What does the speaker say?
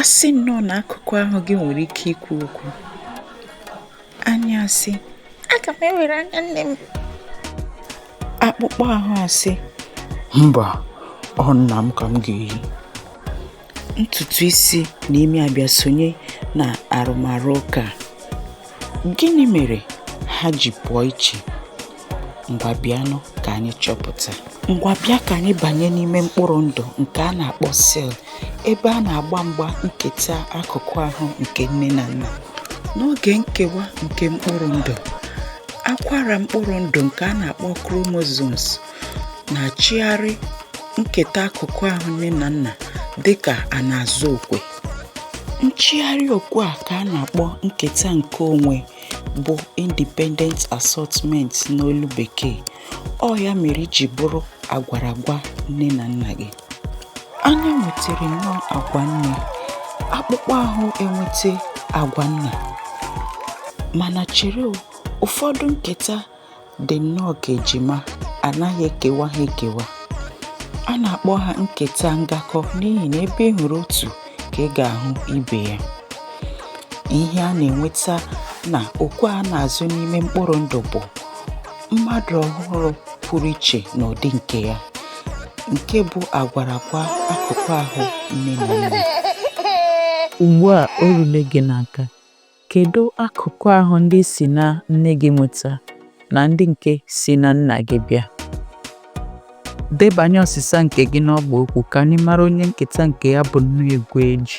a sị nnọọ na akụkụ ahụ gị nwere ike ikwu okwu anya asị aga m ewere anya nne m akpụkpọ ahụ asị mba ọ nna m ka m ga-eyi ntutu isi na imi abịa sonye na arụmarụ ụka gịnị mere ha ji pụọ iche ngwa bịanụ ka anyị chọpụta ngwa bịa ka anyị banye n'ime mkpụrụ ndụ nke a na-akpọ sel ebe a na-agba mgba nketa akụkụ ahụ nke nne na nna n'oge nkewa nke mkpụrụ ndụ akwara mkpụrụ ndụ nke a na-akpọ chromosomes na-achịgharị nketa akụkụ ahụ nne na nna dị ka a na-azụ okwe nchịgharị okwe a ka a na-akpọ nketa nke onwe bụ Independent Assortment n'olu Bekee. Ọ ya mere i ji bụrụ agwara agwa nne na nna gị. Anya nwetara nnọọ agwa nne, akpụkpọ ahụ enweta agwa nna. Mana chere ụfọdụ nketa dị nnọọ ka ejima a naghị ekewa ha ekewa a na-akpọ ha nketa ngakọ n'ihi na ebe ị hụrụ otu ka ị ga-ahụ ibe ya ihe a na-enweta na okwe a na-azụ n'ime mkpụrụ ndụ bụ mmadụ ọhụrụ pụrụ iche n'ụdị nke ya nke bụ agwara agwa akụkụ ahụ nne na nna ugbu a o rule gị n'aka Kedụ akụkụ ahụ ndị i si na nne gị nweta na ndị nke si na nna gị bịa? Debanye ọsịsa nke gị n'ọgba okwu ka anyị mara onye nketa nke ya bụ nnọọ egwu eji.